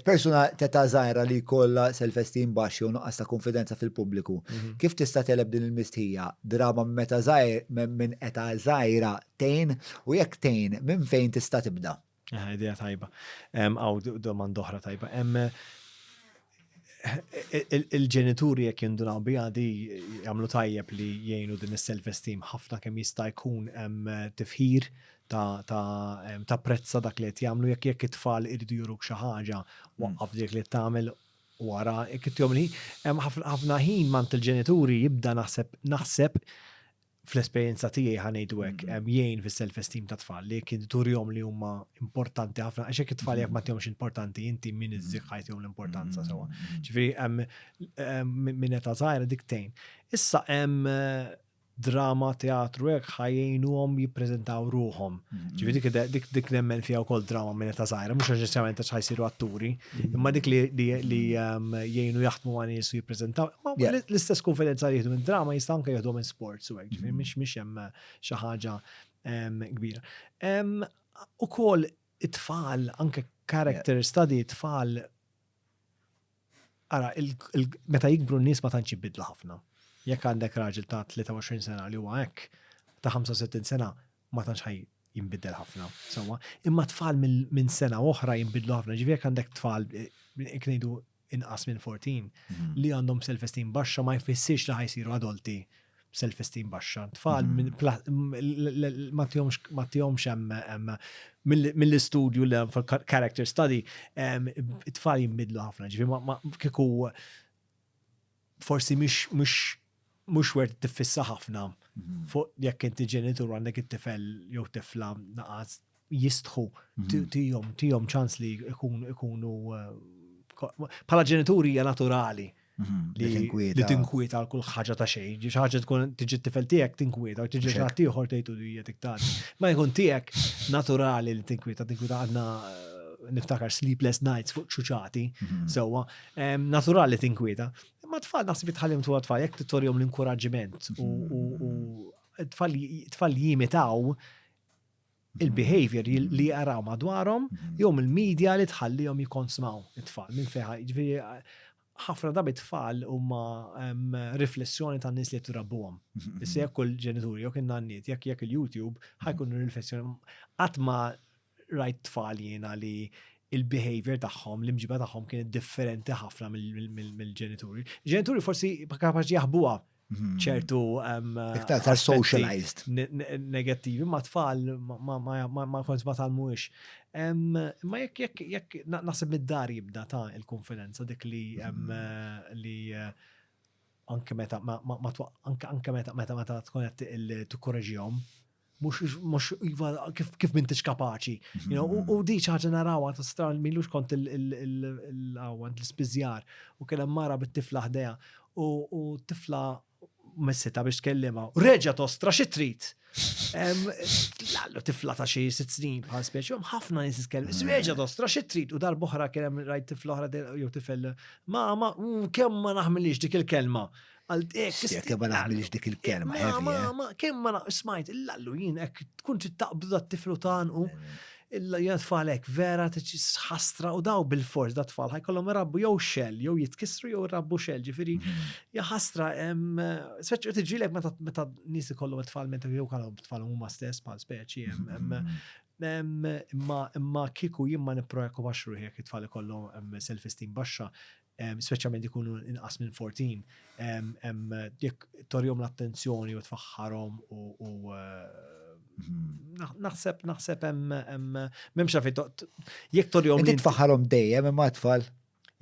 Persuna t'età żgħira li jkollha self-esteem baxx jew nuqqas ta' kunfidenza fil-pubbliku, kif tista' tgħeleb din il-mistħija? Drama minn meta żgħir, minn età żgħira tgħin? U jekk tgħin, minn fejn tista' tibda? Aha, idea tajba. Hawn domanda oħra tajba. Il-ġenituri jekk jindunaw biha di jagħmlu tajjeb li jgħinu din is-self-esteem ħafna kemm jista' jkun hemm tifħir ta' prezza dak li qed jagħmlu jekk jekk it-tfal iridu juruk xi ħaġa mm. waqqaf dik li tagħmel wara jekk ittihom li hemm ħafna ħin mant il-ġenituri jibda naħseb naħseb fl-esperjenza tiegħi ħanejdu hekk mm. hemm jgħin fis-self-esteem ta' tfal li kien turjom li huma importanti ħafna għax hekk it-tfal jekk ma tihomx importanti inti min mm. iżżiħħajt jew l-importanza sewwa. Ġifieri hemm minn età żgħira dik tgħin. Issa hemm drama, teatru, hekk ħa jgħinuhom jippreżentaw ruhom. Ġifieri dik dik nemmen fiha wkoll drama minn ta' żgħira, mhux neċessarjament għax ħajsiru atturi, imma dik li ehm, jgħinu jaħdmu ma' nies u jippreżentaw. L-istess konfidenza li jieħdu minn drama jista' anke jieħdu minn sports u hekk, ġifieri mm. mhix mhix hemm xi ħaġa ehm, kbira. Ehm, ukoll it-tfal, anke character study, it-tfal Ara, meta jikbru n-nies ma tantx jibidlu ħafna. Jekk għandek raġel ta' 23 sena li huwa hekk, ta' 65 sena ma tantx ħaj jinbidel ħafna. Sawa, imma tfal minn sena oħra jinbidlu ħafna. Ġifieri jekk għandek tfal iknejdu eh, inqas minn 14 mhm. li għandhom self-esteem baxxa ma jfissirx li ħajsiru adulti. Mm self-esteem baxxa. Tfal mm-hmm. ma tihomx hemm mill-istudju l character study, tfal jimbidlu ħafna, ġifi ma kiku forsi mux wert tifissa ħafna mm-hmm. fuq jekk inti ġenitur għandek it-tifel jew tifla naqas jistħu mhm. tijom, tijom ċans li ikunu eh, bħala ġenituri hija naturali mhm, li tinkwieta għal kull ħaġa ta' xejn, ġi ħaġa tkun tiġi t-tifel tiegħek tinkwieta, tiġi xi ħadd ieħor tgħidu li hija tiktar. Ma jkun tiegħek naturali li tinkwieta, tinkwieta għandna eh, niftakar sleepless nights fuq ċuċati, mhm. sewwa, naturali tinkwieta. Ma tfal naħseb jitħallim tu tfal jekk tittorjom l-inkuraġġiment u tfal jimitaw il-behavior li jaraw madwarhom jew mill-media li tħallihom jikkonsmaw it-tfal minn fejn jiġifieri ħafna drabi t-tfal huma riflessjoni tan-nies li qed irabbuhom. Issa jekk kull ġenitur jew kien nanniet jekk jekk il-YouTube ħajkun riflessjoni qatt ma rajt tfal jiena li il-behavior tagħhom, l-imġiba tagħhom kienet differenti ħafna mill-ġenituri. Ġenituri forsi kapaċi jaħbuha Hmm. ċertu iktar tar socialized negattivi ma tfal ma kont ma talmux. Ma jekk jekk jekk naħseb mid-dar jibda ta' il-konfidenza dik li hmm. eh, li eh, anke meta anke meta meta meta tkun qed tikkoreġihom mux iva kif mintix kapaċi. U di ċaġa narawa ta' stran millux kont il-għawant l-spizjar u kena mara bit-tifla ħdeja u tifla messita biex tkellima. Reġa tostra xi trid. Lallu tifla ta' xi sitt snin bħal speċi, ħafna nis tkellem. Reġa tostra xi trid u darboħra kien hemm rajt tifla oħra jew tifel. Mama, kemm ma naħmilix dik il-kelma. Għal dek. Jekk ma naħmilx dik il-kelma, heavy. Eh? Kemm ma smajt, il-lallu jien hekk tkun tittaqbdu dat tiflu tanqu. Illa jgħat falek vera ħastra u daw bil-fors da tfal ħajkollhom rabbu jew xell jew jitkissru jew rabbu xell ġifieri mm-hmm. ja ħastra speċi tiġilek meta meta nies ikollhom tfal meta jew kalhom tfal huma stess bħal speċi mm-hmm. imma imma kiku jien ma nipprojekku baxx ruħi jekk it-tfal ikollhom self-esteem baxxa speċjalment ikunu inqas minn 14, jekk torjom l-attenzjoni u tfaħħarhom u naħseb naħseb hemm m'hemmx xafi jekk torjom. Inti tfaħħarhom dejjem imma tfal.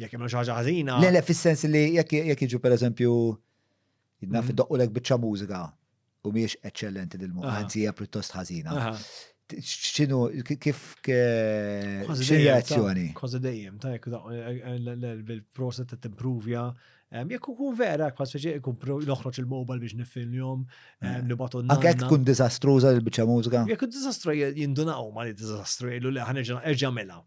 Jekk hemm xi ħaġa ħażina. Le le fis-sens li jekk jiġu pereżempju Naf mm. doqqu lek bieċa mużika u miex eccellenti dil-mod, għanzi hija pjuttost ħażina. ċinu, kif reazzjoni? Kważi dejjem, ta' jek l-prosa ta' t-improvja, jek kun vera, kważi ġeq ikun noħroċ il-mobile biex nifilmjom, nibatu n Anke jek kun dizastruza l-bicċa mużika? Jek kun dizastru jindunaw ma li dizastru, jgħidu li ħanġa mela.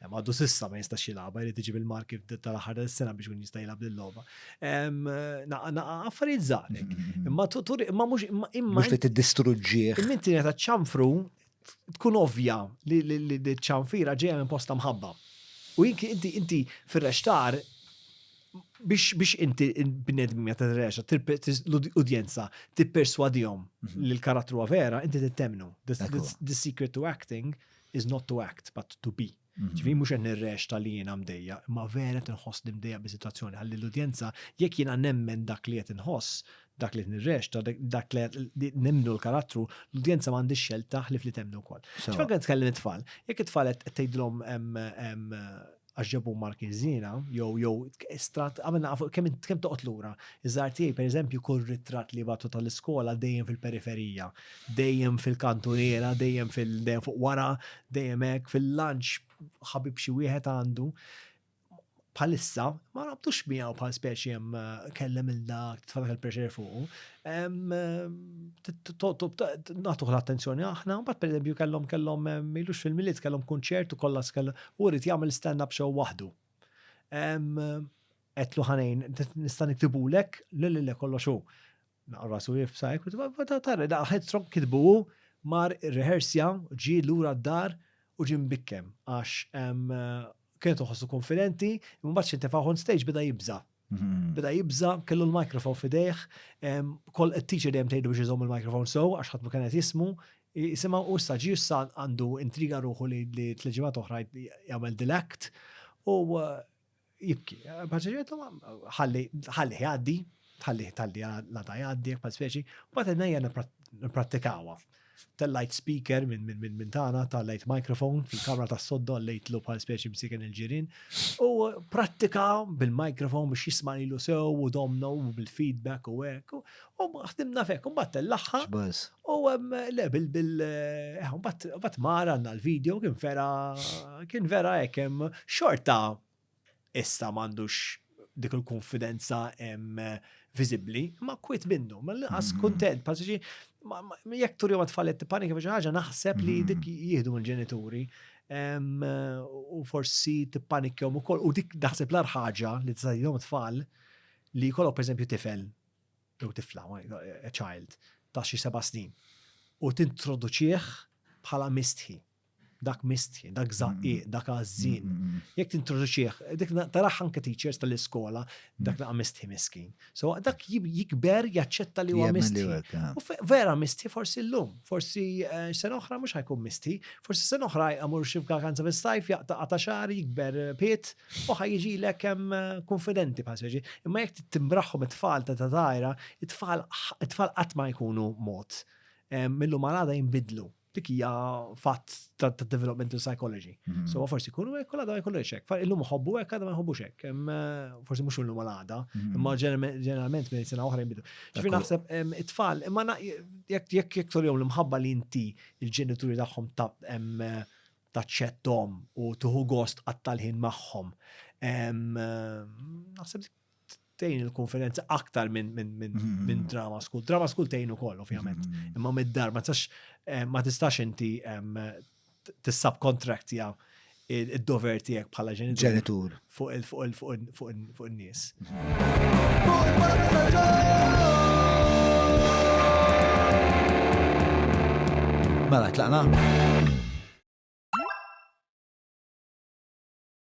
Għaddu sissa ma jistax jilagħba, jrid iġib il-marki tal-aħħar tal-sena biex kun jista' jilgħab lill-logħba. Affarijiet żgħarek. Imma tur imma mhux imma imma. Mhux li tiddistruġġih. Imma inti ta' ċanfru tkun ovvja li ċanfira ġejja minn posta mħabba. U inti inti fir-rextar biex biex inti bnedmi meta t-reġa, l-udjenza, tipperswadihom mhm. li l-karattru vera, inti t-temnu. The secret to acting is not to act, but to be. Mhm. Ġifieri mhux qed nirrex tal jiena mdejja, imma vera qed inħoss li mdejja bi situazzjoni ħalli l-udjenza jekk jiena nemmen dak li qed inħoss, dak li nirrex, dak li nemnu l-karattru, l-udjenza m'għandix xelta ħlif li temnu wkoll. Ġifieri qed tkellem it-tfal, jekk it-tfal qed tgħidlhom għax ġabu markiżina, jew jew strat għamel naqa' fuq kemm kemm toqgħod lura. Iż-żgħar tiegħi pereżempju kull ritratt li jibgħatu tal-iskola dejjem fil-periferija, dejjem fil-kantuniera, dejjem fil dejjem fuq wara, dejjem hekk, fil-lunch ħabib xi wieħed għandu. Bħalissa ma rabtux miegħu bħal speċi hemm kellem il dak tfadak il-pressure fuqu, Natuħ l-attenzjoni aħna, bat per eżempju kellhom kellhom ilux fil-miliet kellhom kunċert u kollha skell u rrid jagħmel stand-up show waħdu. Qedlu ħanejn, nista' niktibulek, le le le kollox hu. Naqra rasu jifsa, tarri da headstrong kitbu hu, mar rehearsja, ġie lura d-dar u ġie mbikkem għax kienet iħossu konfidenti, imbagħad xi ntefagħ on stage beda jibża'. Beda jibza, kellu l-mikrofon fidejh, kol teacher dejjem tgħidu biex iżomm il-mikrofon so, għax ħadd ma kien qed jismu, jisimha u issa ġi issa għandu intriga ruħu li tleġimat oħra jagħmel dilekt u uh, jibki. Paċeġetu ħalli ħalli jgħaddi, ħalli ħalli la ta' jgħaddi, pa' speċi, u bat id-nejja nipprattikawa. Tellajt speaker minn tagħna, tellajt microphone fil-kamra tas-sodda lejtlu bħal speċi msiken il-ġirien u prattika bil-microphone biex jisma' lilu sew u domna u bil-feedback u hekk u ħdimna fek u mbagħad tellaħħa u le bil bil eh, mbagħad mara għandna l-video kien vera kien vera hekk hemm xorta issa m'għandux dik il-konfidenza viżibbli, ma kwit minnu, ma l-inqas mm-hmm. kuntent, passiġi, jekk turi ma tfallet tipanika biex ħaġa naħseb li mm-hmm. dik jieħdu l-ġenituri u forsi tippanikjom ukoll u dik naħseb l ħaġa li tista' jom tfal li jkollok pereżempju tifel jew tifla, a child, ta' xi seba' snin u tintroduċih bħala mistħi. dak mistħi, dak mm. zaqqiq, dak għazzin. Mm, mm, Jek tintroduċieħ, dik taraħ anke teachers tal-iskola, dak naqa mistħi miskin. So dak jikber jaċċetta li huwa mistħi. U vera mistħi forsi l-lum, forsi eh, sen oħra mhux ħajkun mistħi, forsi sen oħra jgħamur xi f'kakanza fis-sajf jaqta' ta' xar, jikber eh, piet, u ħajġi lek hemm eh, konfidenti paseġi. Imma jekk timbraħħom it-tfal ta' tajra, it-tfal qatt ma jkunu mod. Millu malada jinbidlu. Dik hija fatt ta' developmental psychology. Mhm. So forsi jkunu hekk u l-għada jkunu hekk. Fa illum ħobbu hekk għadha ma jħobbux hekk. Eh, forsi mhux illum għada, mhm. imma ġeneralment minn sena oħra jinbidu. Ġifi naħseb it-tfal, imma jekk jekk jekk tolhom l-imħabba li inti il-ġenituri tagħhom ta' taċċettom u tuħu gost għat-talħin magħhom. Naħseb tejn il-konferenza aktar minn min, min, mm-hmm. min drama school. Drama school tejn ukoll, ovvjament. Mm-hmm. Imma mid-dar, ma tistax eh, ma tistax inti tissubkontraktja id-dover tiegħek bħala ġenitur fuq il-nies. Mela, tlaqna?